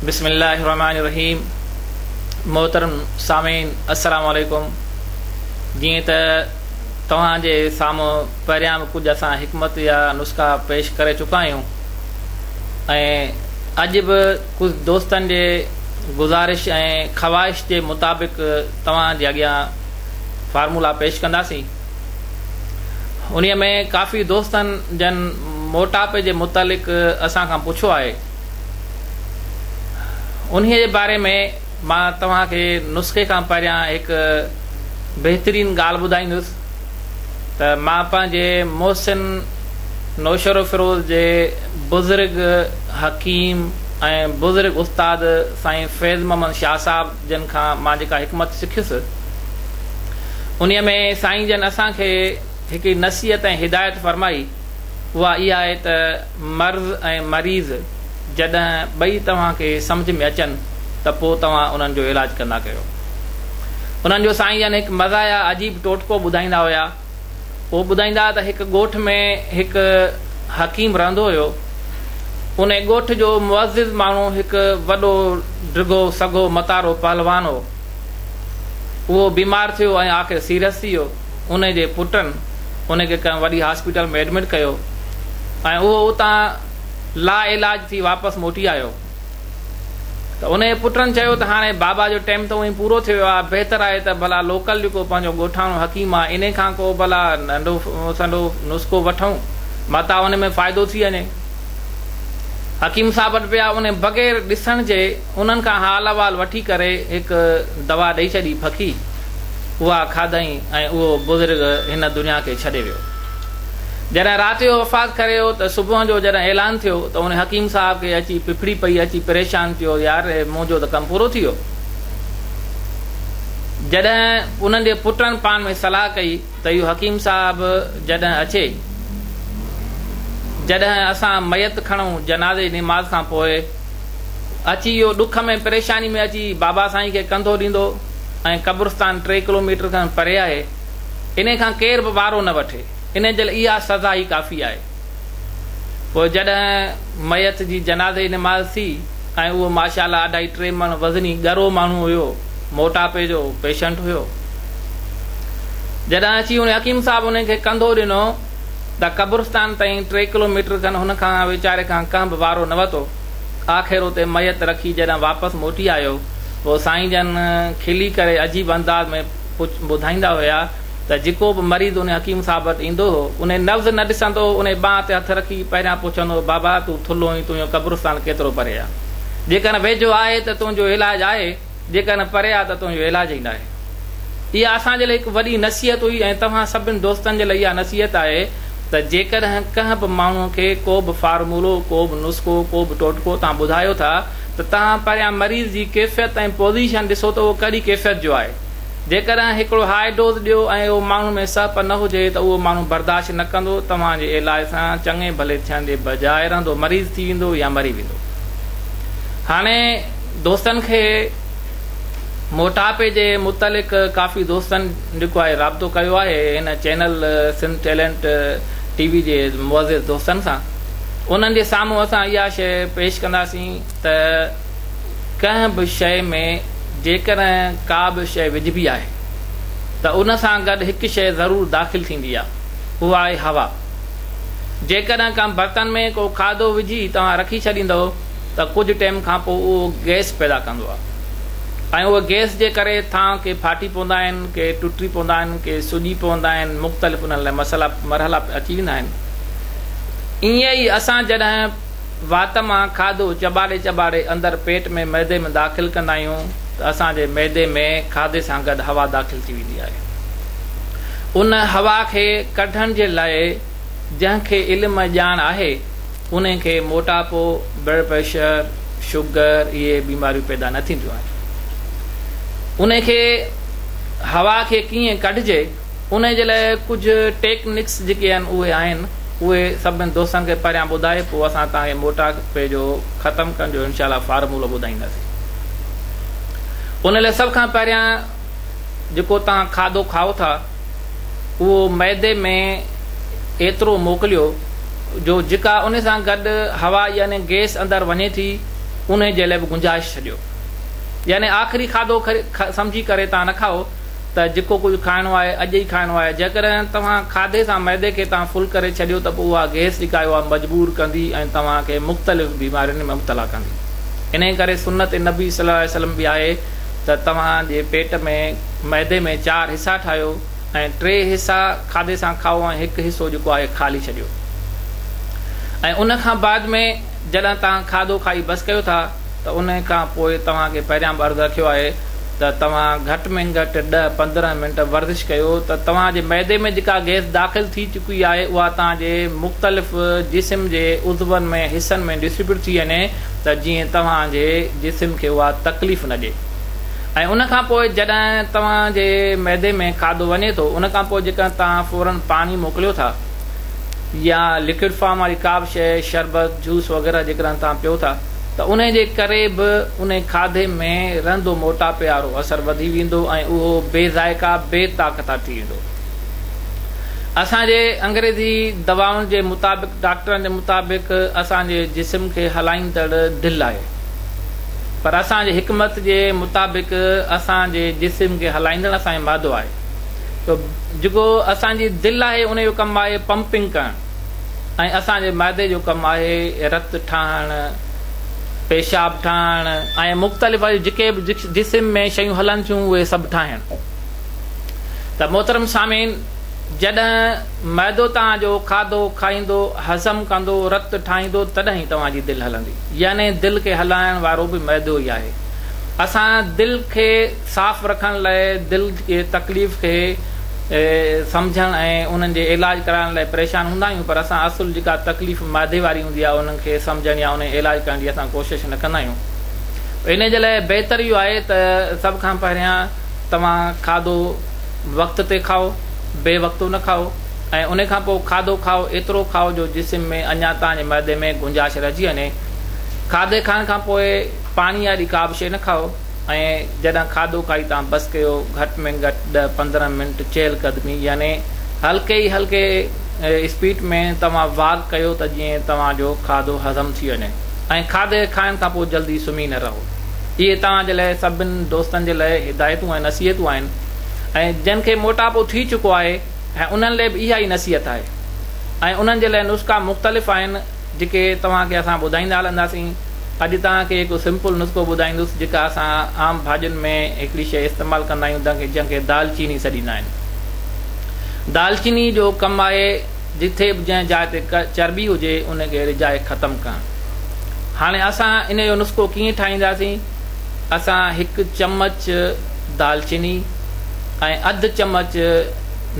بسم الله الرحمن الرحيم محترم سامعين السلام عليڪم جيئن ته توهان جي سامهون پهريان به ڪجهه اسان حڪمت يا نسخا پيش ڪري چڪا آهيون ۽ اڄ به ڪجهه دوستن جي گزارش ۽ خواهش جي مطابق توهان جي اڳيان فارمولا پيش ڪنداسين. انهيء ۾ ڪافي دوستن جن موٽاپي جي متعلق اسان کان پڇيو آهي. انهيء جي باري ۾ مان توهان کي نسخي کان پهريان هڪ بهترين ڳالهه ٻڌائيندس ته مان پنهنجي محسن نوشهروفيروز جي بزرگ حڪيم ۽ بزرگ استاد سائين فيض محمد شاهه صاحب جن کان مان جيڪا حڪمت سکيس، انهيء ۾ سائين جن اسان کي هڪڙي نصيحت ۽ هدايت فرمائي، اها اها آهي ته مرض ۽ مريض جڏهن ٻئي توهان کي سمجهه ۾ اچن ته پوء توهان انهن جو علاج ڪندا ڪيو. انهن جو سائين جن هڪ مزاحيه عجيب ٽوٽڪو ٻڌائيندا هيا. هو ٻڌائيندا ته هڪ ڳوٺ ۾ هڪ حڪيم رهندو هيو. ان ڳوٺ جو معزز ماڻهو هڪ وڏو ڊگهو سگهو متارو پهلوان هو. اهو بيمار ٿيو ۽ آخر سيريس ٿي ويو. ان جي پٽن ان کي ڪنهن وڏي هاسپيٽل ۾ ايڊمٽ ڪيو ۽ اهو اتان لاعلاج ٿي واپس موٽي آيو. ته ان جي پٽن چيو ته هاڻي بابا جو ٽيم ته اوهين پورو ٿي ويو آهي، بهتر آهي ته ڀلا لوڪل جيڪو پنهنجو ڳوٺاڻو حڪيم آهي، انهي کان ڪو ڀلا ننڍو سنڍو نسخو وٺون، متان ان ۾ فائدو ٿي وڃي. حڪيم صاحب وٽ ويا، انهي بغير ڏسڻ جي انهن کان حال احوال وٺي ڪري هڪ دوا ڏئي ڇڏي ڦڪي، اها کاڌئين ۽ اهو بزرگ هن دنيا کي ڇڏي ويو. جڏهن رات جو وفات ڪري ويو ته صبح جو جڏهن اعلان ٿيو ته ان حڪيم صاحب کي اچي ڦڦڙي پئي اچي پريشان ٿيو يار هي منهنجو ته ڪم پورو ٿي ويو. جڏهن انهن جي پٽن پان ۾ صلاح ڪئي ته اهو حڪيم صاحب جڏهن اچي جڏهن اسان ميت کڻون جنازي جي نماز کان پوء اچي اهو ڏک ۾ پريشاني ۾ اچي بابا سائين کي ڪنڌو ڏيندو ۽ قبرستان ٽي ڪلوميٽر کن پري آهي انهي کان ڪير به وارو نه وٺي، انهي جي لاء اها سزا ئي ڪافي آهي. پوء جڏهن ميت جي جنازي جي نماز ٿي ۽ اهو ماشاءالله اڍائي ٽي مڻ وزني ڳرو ماڻهو هيو، موٽاپي جو پيشنٽ هيو. جڏهن اچي هن حڪيم صاحب انهي کي ڪنڌو ڏنو ته قبرستان تائين ٽي ڪلو ميٽر کن هن کان ويچاري کان ڪنهن به وارو نه وتو. آخر اتي ميت رکي جڏهن واپس موٽي آيو، پوء سائين جن کلي ڪري عجيب انداز ۾ ٻڌائيندا هيا ته جيڪو به مريض انهي حڪيم صاحب وٽ ايندو هو، انهي نبض نه ڏسندو هو، انهي ٻانهن تي هٿ رکي پهريان پڇندو هو، بابا تون ٿلهو آهين، تنهنجو قبرستان ڪيترو پري آهي؟ جيڪڏهن ويجهو آهي ته تنهنجو علاج آهي، جيڪڏهن پري آهي ته تنهنجو علاج ئي ناهي. اها اسان جي لاء هڪ وڏي نصيحت هئي ۽ توهان سڀني دوستن جي لاء اها نصيحت آهي ته جيڪڏهن ڪنهن به ماڻهو کي ڪو به فارمولو، ڪو به نسخو، ڪو به ٽوٽڪو توهان ٻڌايو ٿا ته توهان پهريان مريض جي ڪيفيت ۽ پوزيشن ڏسو ته اهو ڪهڙي ڪيفيت جو آهي. جيڪڏهن هڪڙو هاء ڊوز ڏيو ۽ اهو ماڻهو ۾ سهپ نه هجي ته اهو ماڻهو برداشت نه ڪندو، توهان جي علاج سان چڱي ڀلي ٿيڻ جي بجاء رهندو مريض ٿي ويندو يا مري ويندو. هاڻي دوستن کي موٽاپي جي متعلق ڪافي دوستن جيڪو آهي رابطو ڪيو آهي هن channel Sindh talent T V جي معزز دوستن سان انهن جي سامهون اسان اها شيء پيش ڪنداسين ته ڪنهن به شيء ۾ جيڪڏهن ڪا به شيء وجهبي آهي ته ان سان گڏ هڪ شيء ضرور داخل ٿيندي آهي اها آهي هوا. جيڪڏهن ڪنهن برتن ۾ ڪو کاڌو وجهي توهان رکي ڇڏيندؤ ته ڪجهه ٽيم کان پوء اهو گئس پيدا ڪندو آهي ۽ اهي گئس جي ڪري ٿانء ڪي ڦاٽي پوندا آهن ڪي ٽٽي پوندا آهن ڪي سڄي پوندا آهن مختلف انهن لاء مسئلا مرحلا اچي ويندا آهن ائين ئي اسان جڏهن وات مان کاڌو چٻاڙي چٻاڙي اندر پيٽ ۾ معدي ۾ داخل ڪندا آهيون ته اسان جي معدي ۾ کاڌي سان گڏ هوا داخل ٿي ويندي آهي. ان هوا کي ڪڍڻ جي لاء جنهن کي علم ۽ ڄاڻ آهي انهي کي موٽاپو، بلڊ پريشر، شگر اهي بيماريون پيدا نه ٿينديون آهن. انهي کي هوا کي ڪيئن ڪڍجي؟ انهي جي لاء ڪجهه ٽيڪ نڪس جيڪي آهن اهي آهن اهي سڀني دوستن کي پهريان ٻڌائي پوء اسان توهان کي موٽاپي جو ختم ڪرڻ جو انشاء الله فارمولو ٻڌائينداسين انهي لاء سڀ کان پهريان جيڪو توهان کاڌو کائو ٿا اهو معدي ۾ ايترو موڪليو جو جيڪا انهي سان گڏ هوا يعني گيس اندر وڃي ٿي انهي جي لاء به گنجائش ڇڏيو يعني آخري کاڌو سمجهي ڪري توهان نه کائو ته جيڪو ڪجهه کائڻو آهي اڄ ئي کائڻو آهي، جيڪڏهن توهان کاڌي سان معدي کي تان فل ڪري ڇڏيو ته پوء اها گئس جيڪا آهي اها مجبور ڪندي ۽ توهان کي مختلف بيمارين ۾ مبتلا ڪندي. انهيء ڪري سنت نبي صلي الله عليه وسلم به آهي ته توهان جي پيٽ ۾ معدي ۾ چار حصا ٺاهيو ۽ ٽي حصا کاڌي سان کائو ۽ هڪ حصو جيڪو آهي خالي ڇڏيو ۽ ان کان بعد ۾ جڏهن توهان کاڌو کائي بس ڪيو ٿا ته ان کان پوء توهان کي پهريان به عرض رکيو آهي ته توهان گهٽ ۾ گهٽ ڏهه پندرهن منٽ ورزش ڪيو ته توهان جي معدي ۾ جيڪا گئس داخل ٿي چڪي آهي اها توهان جي مختلف جسم جي عضون ۾ حصن ۾ ڊسٽريبيوٽ ٿي وڃي ته جيئن توهان جي جسم کي اها تڪليف نه ڏي ۽ ان کان پوء جڏهن توهان جي معدي ۾ کاڌو وڃي ٿو ان کان پوء جيڪڏهن توهان فورن پاڻي موڪليو ٿا يا لڪوڊ فارم واري ڪا به شيء شربت جوس وغيره جيڪڏهن توهان پيو ٿا ته انهي جي ڪري به انهي کاڌي ۾ رهندو موٽاپي وارو اثر وڌي ويندو ۽ اهو بي ذائقه بي طاقتا ٿي ويندو. اسان جي انگريزي دوائن جي مطابق ڊاڪٽرن جي مطابق اسان جي جسم کي هلائيندڙ دل آهي پر اسان جي حڪمت جي مطابق اسان جي جسم کي هلائيندڙ اسان جي معدو آهي تو جيڪو اسان جي دل آهي انهي جو ڪم آهي پمپنگ ڪرڻ ۽ اسان جي معدي جو ڪم آهي رت ٺاهڻ، پيشاب ٺاهڻ ۽ مختلف ٻيون جيڪي به جسم ۾ شيون هلن ٿيون اهي سڀ ٺاهڻ. ته محترم سامعين جڏهن معدو توهان جو کاڌو کائيندو، هضم ڪندو، رت ٺاهيندو تڏهن ئي توهان جي دل هلندي يعني دل کي هلائڻ وارو به معدو ئي آهي. اسان دل کي. صاف رکڻ لاء دل جي تڪليف کي سمجهڻ ۽ انهن جي علاج ڪرائڻ لاء پريشان هوندا آهيون پر اسان اصل جيڪا تڪليف معدي واري هوندي آهي انهن کي سمجهڻ يا انهي علاج ڪرڻ جي اسان ڪوشش نه ڪندا آهيون انهي جي لاء بهتر اهو آهي ته سڀ کان پهريان توهان کاڌو وقت تي کائو بي وقتو نه کائو ۽ انهي کان پوء کاڌو کائو ايترو کائو جو جسم ۾ اڃان توهان جي معدي ۾ گنجاش رهجي وڃي کاڌي کائڻ کان پوء پاڻي واري ڪا به شيء نه کائو. ۽ جڏھن کاڌو کائي تان بس ڪيو گھٽ ۾ گھٽ ڏھ پندرھن منٽ چهل قدمي يعني ھلڪي ئي ھلڪي اسپيڊ ۾ توھان واڪ ڪيو ته جئين توھان جو کاڌو ھضم ٿي وڃي ۽ کاڌي کائڻ کان پوء جلدي سمھي نه رھو اھي توھان جي لاء سڀن دوستن جي لاء ھدايتون ۽ نصيحتون آھن ۽ جن کي موٽاپو ٿي چڪو آھي انھن لاء به اھا ئي نصيحت آھي ۽ انھن جي لاء نسخا مختلف آھن جيڪي توهان کي اسان ٻڌائيندا هلنداسين. اڄ توهان کي هڪ سمپل نسخو ٻڌائيندس جيڪا اسان عام ڀاڄين ۾ هڪڙي شيء استعمال ڪندا آهيون جنهن کي دال چيني سڏيندا آهن. دال چيني جو ڪم آهي جتي به جنهن جاء تي چرٻي هجي ان کي رجاء ختم ڪرڻ. هاڻي اسان ان جو نسخو ڪيئن ٺاهينداسين اسان هڪ چمچ دال چيني ۽ اڌ چمچ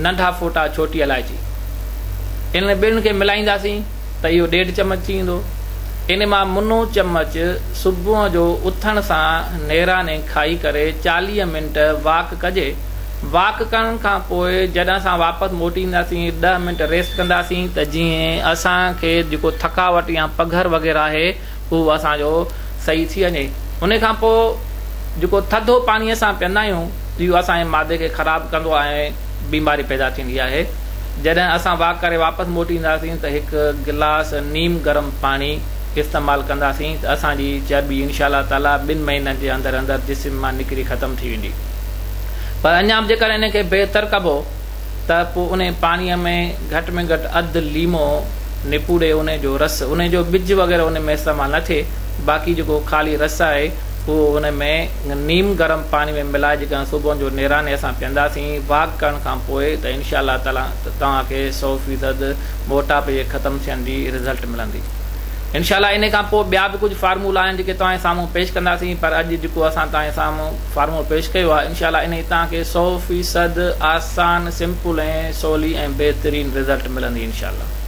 ننڍا ڦوٽا ڇوٽي الائچي، انهن ٻنهن کي ملائينداسين ته اهو ڏيڍ چمچ ٿي ويندو. ان مان منو چمچ صبح جو اٿڻ سان نيراني کائي ڪري چاليهه منٽ واڪ ڪجي. واڪ ڪرڻ کان پوء جڏهن اسان واپس موٽي اينداسين ڏهه منٽ ريسٽ ڪنداسين ته جيئن اسان کي جيڪو ٿڪاوٽ يا پگهر وغيره آهي اهو اسان جو صحيح ٿي وڃي ان کان پوء جيڪو ٿڌو پاڻي اسان پيئندا آهيون اهو اسان جي معدي کي خراب ڪندو آهي ۽ بيماري پيدا ٿيندي آهي جڏهن اسان واڪ ڪري واپس موٽي اينداسين ته هڪ گلاس نيم گرم پاڻي استعمال ڪنداسين ته اسان جي چرٻي انشاء الله تعالي ٻن مهينن جي اندر اندر جسم مان نڪري ختم ٿي ويندي پر اڃا به جيڪڏهن ان کي بهتر ڪبو ته پوء انهي پاڻيء ۾ گهٽ ۾ گهٽ اڌ ليمو نپوڙي انهي جو رس، انهي جو ٻج وغيره انهي ۾ استعمال نه ٿئي، باقي جيڪو خالي رس آهي اهو انهي ۾ نيم گرم پاڻي ۾ ملائي جيڪڏهن صبحن جو نيراني اسان پيئنداسين واڪ ڪرڻ کان پوء ته انشاء الله تعالي توهان کي سؤ فيصد موٽاپي جي ختم ٿيڻ جي رزلٽ ملندي انشاء الله انهي کان پوء ٻيا به ڪجهه فارمولا آهن جيڪي توهان جي سامهون پيش ڪنداسين پر اڄ جيڪو اسان توهان جي سامهون فارمو پيش ڪيو آهي انشاء الله انهي تان کي سؤ فيصد آسان سمپل ۽ سولي ۽ بهترين رزلٽ ملندي انشاء الله.